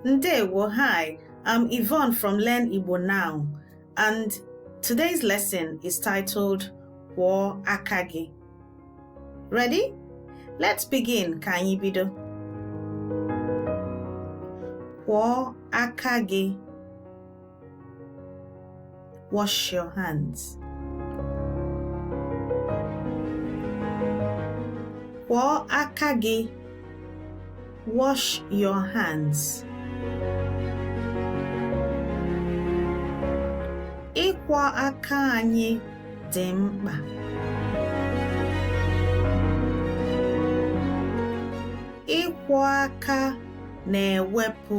Ndewo, hi, I'm Yvonne from Learn Igbo Now, and today's lesson is titled Kwọọ aka gị. Ready? Let's begin, ka anyị bido. Kwọọ aka gị. Wash your hands. Kwọọ aka gị. Wash your hands. Ịkwọ aka anyị dị mkpa. Ịkwọ aka na-ewepụ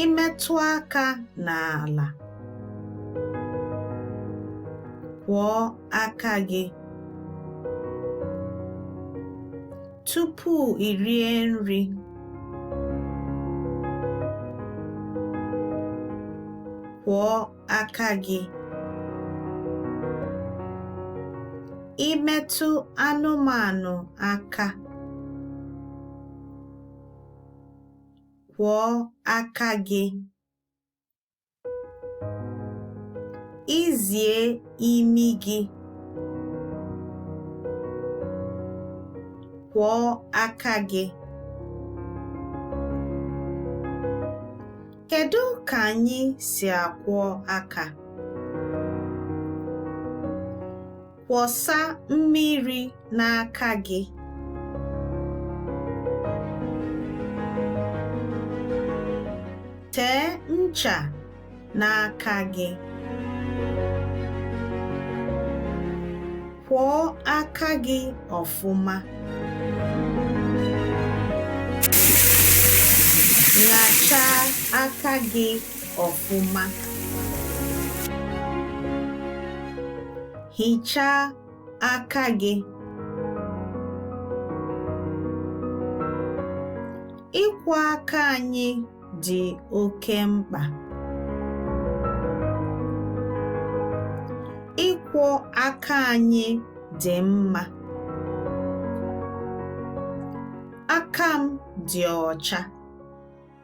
i metụ aka n'ala kwọọ aka gị tupu i rie nri kwọọ aka gị i metụ anụmanụ aka kwọọ aka gị. I zie imi gị. Kwọọ aka gị. Kedu ka anyị si akwọ aka? Kwọsa mmiri n'aka gị. Tee ncha n'aka gị. Kwọọ aka gị ọfụma. Ṅachaa aka gị. ọfụma. Hichaa aka gị. Ịkwọ aka anyị dị oke mkpa. Ịkwọ aka anyị dị mma. Aka m dị ọcha.